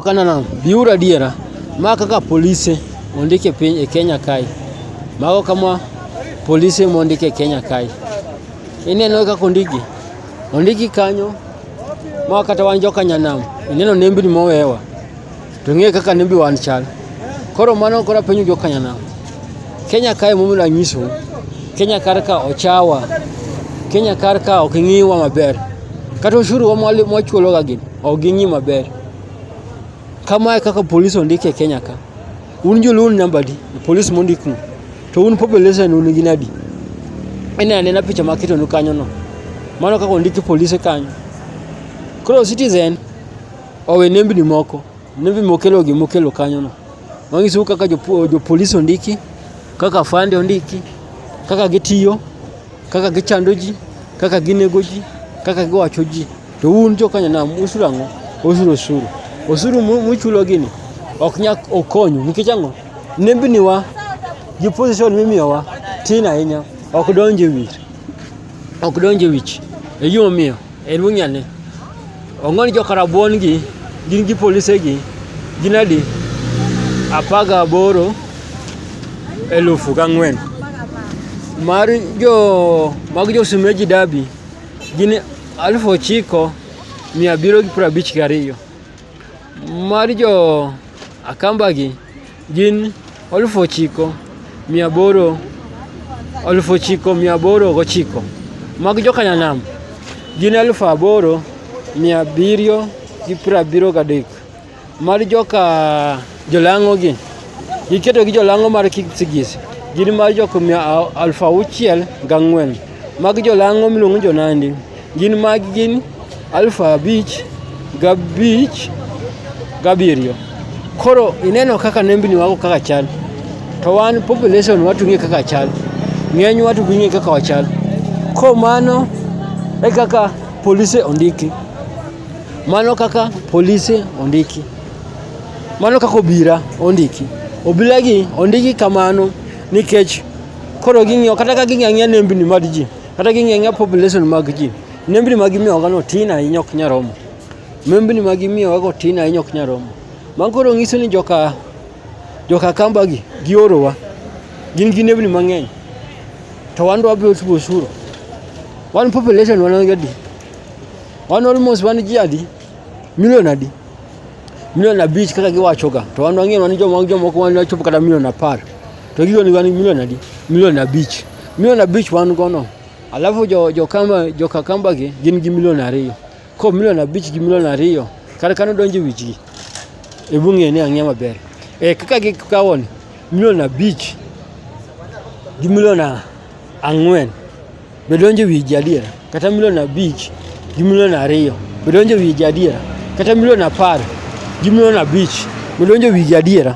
Kana na biura diera ma kaka polise ondike piny e Kenya kae mago kama polise mondike e Kenya kae ineno kaka ondiki ondiki kanyo ma kata wan joka nyanam ineno nembni mowewa to ng'e kaka nembi wan chal koro mano kora penyo joka nyanam Kenya kae momiyo anyiso Kenya kar ka ochawa Kenya kar ka ok ing'iwa maber kata osuru wa mwachuloga gi ok ging'i maber Kamae kaka polis ondik e Kenya ka, un joluo un namba adi e polis mondiknu? To un population un gin adi? Ine anena picha maketonu kanyono, mano kaka ondiki polise kanyo. Koro Citizen owe nembni moko, nembni mokelo gi mokelo kanyono. Manyisou kaka jopolis ondiki, kaka afande ondiki, kaka gitiyo, kaka gichando ji, kaka ginego ji, kaka giwacho ji. To un jo Kenya nam usuru ang'o? Usuru osuru. Osuru muchulo gini ok nyak okonyu nikech ang'o? Nembniwa gi position mimiyowa tin ahinya ok donje wich. Ok donje wich. E gima omiyo en wing'e ni ong'oni jo Karabuon gi gin gi polise gi gin adi? Apar gaboro elufu gang'wen. Mar jo mag jo Sumeji Dabi Gin alufu ochiko mia abiriyo gi piero abich gariyo. Mar jo Akambagi gin alufu ochiko mia aboro alufu ochiko mia aboro gochiko. Mag jo Kanyanam gin alufu aboro mia abiriyo gi piero abiriyo gadek. Mar joka jolang'ogi, iketogi jolang'o mar Kipsigis, gin mar jok mia aluf auchiel gang'wen. Mag jolang'o miluongo jonandi, gin mag gin aluf abich gabich gabiriyo. Koro ineno kaka nembni wago kaka chal, to wan population watung'e kaka chal, ng'eny watu ging'e kaka wachal. Koro mano e kaka polise ondiki. Mano kaka polise ondiki. Mano kaka obira ondiki. Obila gi ondiki kamano nikech koro ging'iyo kata ka ging'iyo ang'iya nembni mag ji kata ging'iyo ang'iya population mag ji nembni ma gimiyogago tin ahinya ok nya romo nembni ma gimiyogago tin ahinya ok nya romo mano koro ng'iso ni joka joka kambagi giorowa gin gi nembni mang'eny to wan dwabedo osuru wan population wan gadi Wan almost wan ji adi? Milion adi? Milion abich kaka giwachoga. To wan wang'eyo wan joma jomoko wan wachopo kata milion apar. To gigo ni wan milion adi? Milion abich. Milion abich wan gono. Alafu jo jo kamba jo kakamba gi gin gi milion ariyo. Ko milion abich gi milion ariyo kar kano donjo wichgi. E bung'e ni ang'e maber. E kaka gikawoni milion abich gi milion ang'wen. Be donjo e wiji adiera? Kata milion abich gi milion ariyo, be donjo e wiji adiera? Kata milion apar gi milion abich, be donjo e wiji adiera?